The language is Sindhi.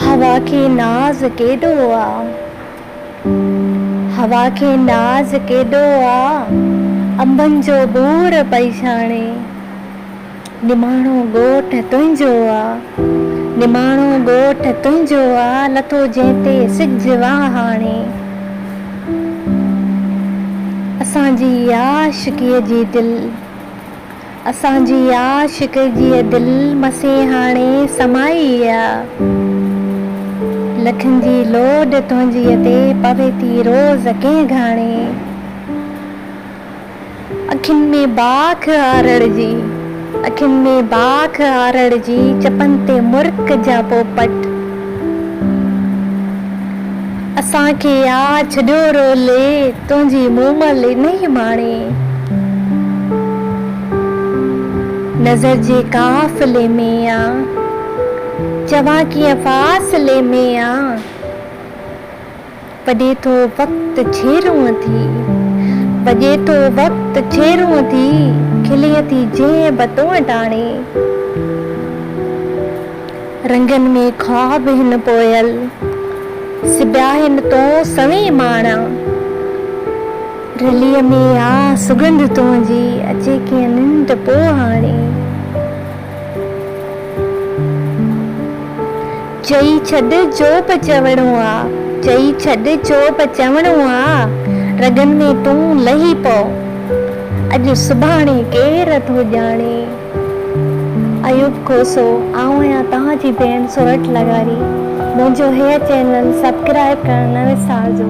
هوا کي ناز ڪيڏو آ. هوا کي ناز ڪيڏو آ. انبن جو ٻور پئي ڇاڻي. نماڻو ڳوٺ تنهنجو آ. نماڻو ڳوٺ تنهنجو آ. لٿو جنهن تي سج واهه هاڻي. اسان جي عاشقيء جي دل. اسان جي عاشق جيء دل مسين هاڻي سمائي آ لٺن جي لوڏ تنهنجيء تي پوي ٿي روز ڪنهن گهاڻي اکين ۾ باک هارڙ جي اکين ۾ باک هارڙ جي چپن تي مرڪ جا پوپٽ. اسان کي آ ڇڏيو رولي، تنهنجي مومل انهي ماڻي. نظر جي قافلي ۾ آ، چوان ڪيئن فاصلي ۾ آ. پڄي ٿو وقت ڇيرون ٿي. پڄي ٿو وقت ڇيرون ٿي، کلي ٿي جنهن به تون ٽاڻي. رنگن ۾ خواب هن پويل، سبيا هن تون سوين ماڻا. رليء ۾ آ سڳنڌ تنهنجي، اچي ڪيئن ننڊ پوء هاڻي. چئي ڇڏ جو به چوڻو آ. چئي ڇڏ جو به چوڻو آ. رڳن ۾ تون لهي پئو. اڄ سڀاڻي ڪير ٿو ڄاڻي. ايوب کوسو آئون آهيان توهان جي ڀيڻ سورٺ لغاري منهنجو هيء چينل سبڪرائب ڪرڻ نه وسارجو.